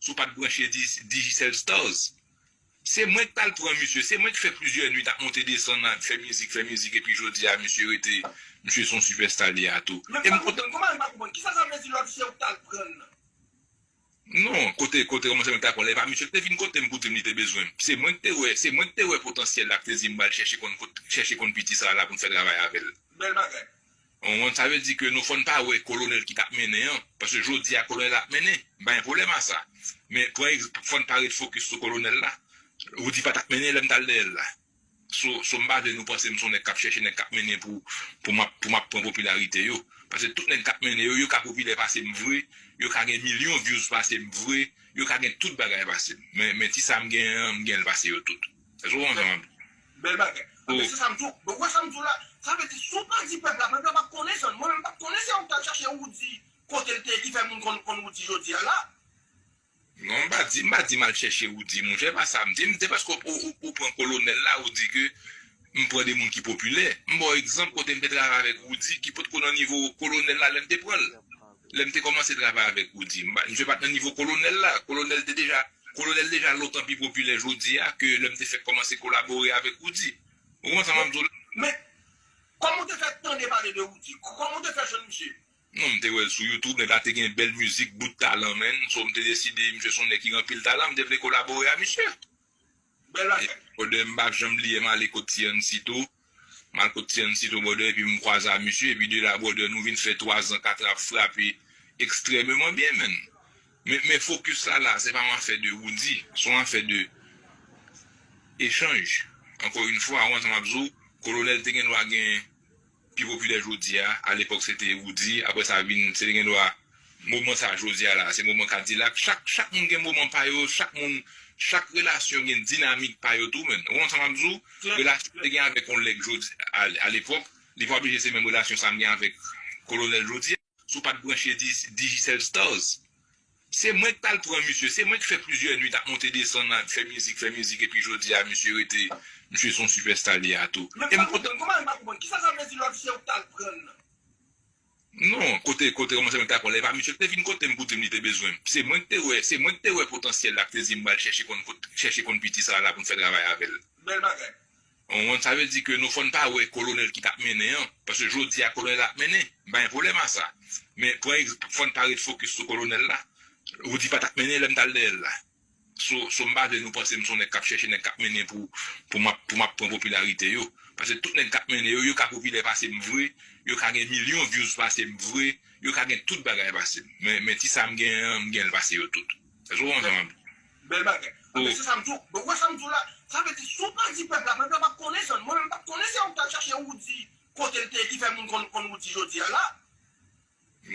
Si w pa t branche Digicel Stars, se mwen k t al pran misye. Se mwen k fè plizyè nuit ap monte desann, ap fè mizik, fè mizik epi jodi a misye rete, misye se yon sipèsta li a tou. Men m pa konprann, kòman m pa konprann? Kisa sa vle di lòt se ou k t al pran l lan? Non, kote kote kòmanse mwen ta konn lè pa misye te vin kotem pou dim li te bezwenm se mwen k te wè se mwen k te wè potansyèl la k te dim bal chèche konn kot chèche konn piti sa la poun fè travay avèl. Bèl bagay. Ou konprann sa vle di ke nou fòn pa wè kolonèl ki tap mennen an paske jodi a kolonèl ap mennen m pa gen pwoblèm a sa men pran fòn pa ret fokis sou kolonèl la Roody pa tap mennen lèm tal dèyèl la. So so m pa vle nou panse m son nèg kap chèche nèg kap mennen pou pou map pou map pran popilarite yo pase tout nèg kap mennen yo yo ka popilè pase m vre yo ka gen milyon vyouz pase m vre yo ka gen tout bagay pase m men men ti sa m gen an m gen l pase yo tout èske ou konprann sa map Bèl bagay. Anben se sa m di w. Donk ou wè sa m di w la? Sa vle di si w pa di pèp la, pèp la pap konnen sa. Mwen menm m pat konnen se ou k t al chache Roody kote l te ye ki fè moun konn konn Roody jodi a la. Non m pa di, m pa di m al chèche ou di monchè, pa sa m di, m se paske ou pran kolonèl la ou di ke m pran de moun ki popilè, m ba w egzanp kote m te travay avèk Roudy ki potko nan nivo kolonèl la lè m te pran l, lè m te kòmanse travay avèk Roudy misye pat nan nivo kolonèl la, kolonèl te deja, kolonèl deja lontan pi popilè jodi a ke lè m te fèk kòmanse kolabore avèk Roudy, ou konprann sa m ap di w la? Men, kòman ou te fè tande pale de Roudy? Kòman ou te fè jwenn misye? Non m te wèl sou youtube nèg la te gen bèl mizik bout talan menn so m te deside misye son nèg ki gen anpil talan m te vle kolabore a misye bèl bagay. Brother m pa janm bliye m ale kot ti Ansito m al kot ti Ansito brother epi m kwaze a misye epi de la brother nou vin fè 3 zan 4 ap frape ekstrèmeman byen menn men men fokis la la se pa yon afè de Roody se yon afè de echanj ankò yn fwa ou wè sa m ap di w kolonèl te gen dwa gen pi popilè jodi a, a lepòk se te Roody, aprè sa vin se te gen dwa moman sa jodi a la se moman Kadilak, chak chak moun gen moman pa yo, chak moun chak relasyon gen dinamik pa yo tou menn, ou konprann sa map di w, relasyon m te gen avèk yon lèg jodi a lepòk li pa oblije se menm relasyon sa m gen avèk kolonèl jodi a. Si w pat branche Digicel Stars se mwen ki tal pran misye, se mwen ki fè plizyè nwit ap monte desann ap fè mizik fè mizik epi jodi a misye rete misye son sipèsta li a tou. Men m pa konprann, kòman li pa konprann? Kisa sa vle di lòt se ou k tal pran l lan? Non, kote kote kòman se mwen ki tal pran l lan, e pa misye ki te vin kote m pou di m li te bezwen m. Se mwen ki te wè, se mwen ki te wè potansyèl la ki te di m bal chèche konn kot chèche konn piti sa la pou n fè travay avè l. Bèl bagay. Hon sa vle di ke nou fòn pa wè kolonèl ki tap mennen an, paske jodi a kolonèl ap mennen, m pa gen pwoblèm a sa, men pran egzanp fòn pa ret fokis sou kolonèl la, Roody pa tap mennen lèm tal dèyèl la, so so m pa vle nou panse m son nèg kap chèche nèg kap mennen pou pou map pou map pran popilarite yo, paske tout nèg kap mennen yo yo ka popilè pasem vre, yo ka gen milyon vyouz pasem vre, yo ka gen tout bagay pasem, men men ti sam gen an m genl pase yo tout. Eske ou konprann sa map di? Bèl bagay. Anben se sa m di w. Donk ou wè sa m di w la? Sa vle di si w pa di pèp la, pèp la pap konnen sa. Mwen menm m pap konnen se ou k t al chache Roody kote l te ye ki fè moun konn Roody jodi a la.